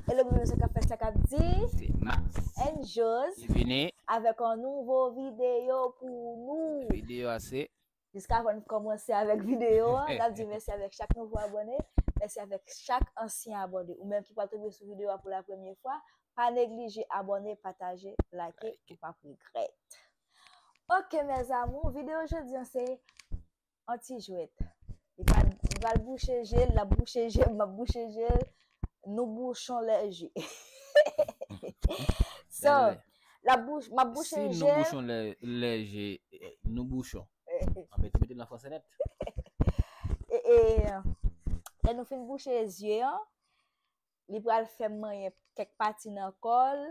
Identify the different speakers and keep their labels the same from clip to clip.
Speaker 1: Hello pou mwen se kap fè sa kap di Se Max
Speaker 2: and Jos
Speaker 1: Ki vini Avèk
Speaker 2: an nouvo
Speaker 1: video pou nou Video a se
Speaker 2: Jiskavan n
Speaker 1: kòmanse avèk videyo a, n ap di mèsi avèk chak nouvo abòne, mèsi avèk chak ansyen abòne. Ou menm ki pral tonbe sou videyo a pou la premye fwa, pa neglije abòne, pataje, like, ou p ap regrèt. Ok mes amours, videyo jodi an se yon ti jwèt. Li pral bouche je l, l ap bouche je m, m ap bouche je l, nou bouchon lè je. So, Lap bouche, map bouche je. Si nou bouchon lè, lè
Speaker 2: je, nou bouchon. An mete, mete nan franse nèt. E,
Speaker 1: e, lè nou fin bouche zye an, li pral fè m manyen kèk pati nan kò l,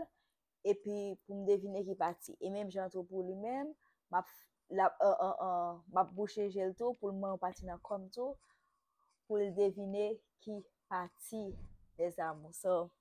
Speaker 1: epi pou m devine ki pati. E menm jan tou pou li menm, map, lap, an, an, an, map bouche je l tou pou l manyen yon pati nan kò m tou, pou l devine ki pati, mes amours. So,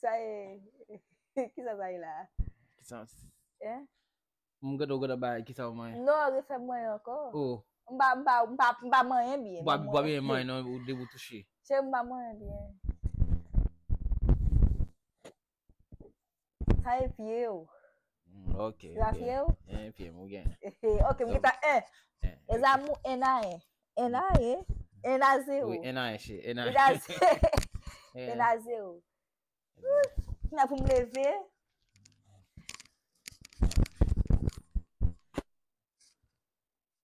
Speaker 1: Sa e, ki sa sa e la? Ki sa? E? Mwen gade ou
Speaker 2: gade ba ki sa ou mwen? Non, refè mwen anko.
Speaker 1: O. Mwen pa,
Speaker 2: mwen
Speaker 1: pa, mwen pa, mwen pa mwen en byen. Mwen pa mwen en non, ou
Speaker 2: debou touche. Che mwen pa mwen en
Speaker 1: byen. Sa e pye ou. Ok.
Speaker 2: Sa pye ou?
Speaker 1: E pye mou gen.
Speaker 2: Ok, mou gen ta e.
Speaker 1: E za mou e na e. E na e. E na ze ou. E na e che.
Speaker 2: E na ze. E na
Speaker 1: ze ou. Ki na pou m leve.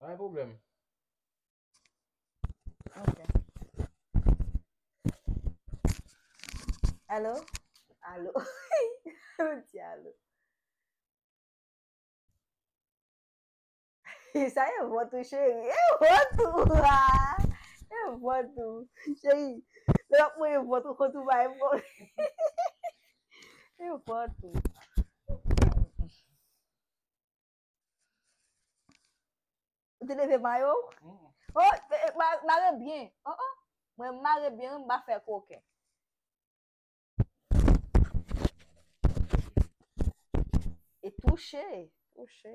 Speaker 2: Pa gen pwoblèm.
Speaker 1: Ok. Alo? Alo. Ou di alo. E sa e vòt ou cheri. E vòt ou a. E vòt ou. Cheri. Lè wap mwen e vòt ou kont ou bay mwen. E vòt ou. Ou te leve mayo ou? Oh, eh, eh, ma- mare byen. Oh, oh. Mwen mare byen, mwen ba fè koken. E touche, touche.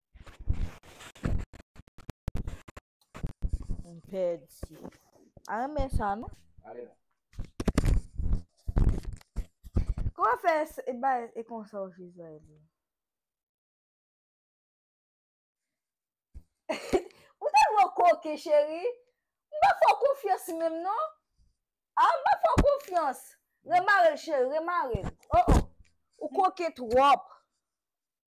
Speaker 1: M pèdi. A renmen sa
Speaker 2: non.
Speaker 1: Kouman fè e bay e konsa w jezi a ede m. Ou tèlman koken cheri. M pa fè w konfyans menm non. A m pa fè w konfyans. Remare l cheri remare l. O o ou koken twòp.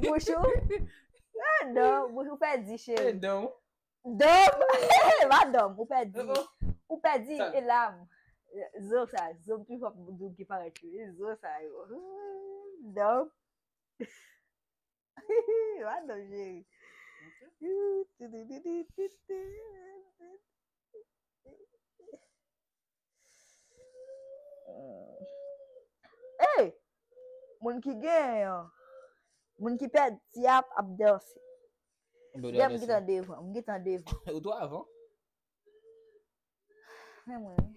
Speaker 1: Bouch ou Dom Bouch ou pè di cheri
Speaker 2: Dom
Speaker 1: Dom Ou pè di Ou pè di E la Zo sa Zo m pi fò pou m di w ki parèt yo Zo sa yo Dom Madanm Jeri. Hey! Moun ki gen an. Moun ki pè di ap ap danse. Yè m gitan devan. M gitan devan. Ou tou avan. Mè mwen mè.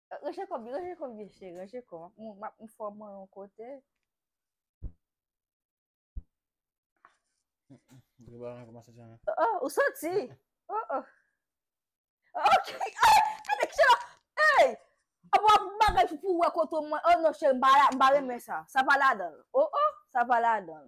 Speaker 1: Ranje kò byen, ranje kò byen cheri, ranje kò. Map m fò mwen yon kote. Mwen ba an komanse jan. Oh, ou soti. Oh oh. Ok. Hey, kade ki chela. Hey. Ap wap bagay pou pou wè koto mwen. Oh non cheri, m pa m pa renmen sa. Sa pa ladan. Oh oh, sa pa ladan.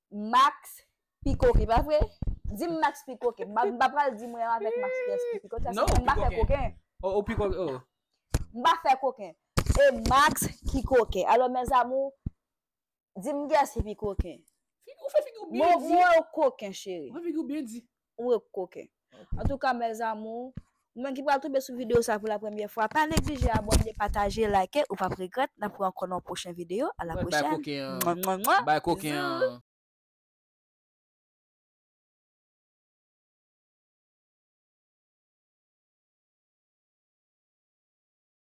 Speaker 1: Max pi koken pa vre? Dim Max pi koken. M pa pral di mwen avèk Max ki yès ki pi koken. Non ou pi koken. Oh ou pi koken oh.
Speaker 2: M pa fè
Speaker 1: koken. E Max ki koken. Alò mes amours dim kiyès ki pi koken. Figi ou fè figi ou
Speaker 2: byen di. Mwen wè ou koken chérie.
Speaker 1: Ou fè figi ou byen di.
Speaker 2: Ou e koken.
Speaker 1: Antouka mes amours, ou menm ki pral tonbe sou video sa pou la premye fwa, pa neglije abone, pataje, like, ou pap regret, nap wè ankò nan yon pwochen video, a la pwochèn.
Speaker 2: Bay
Speaker 1: koken an.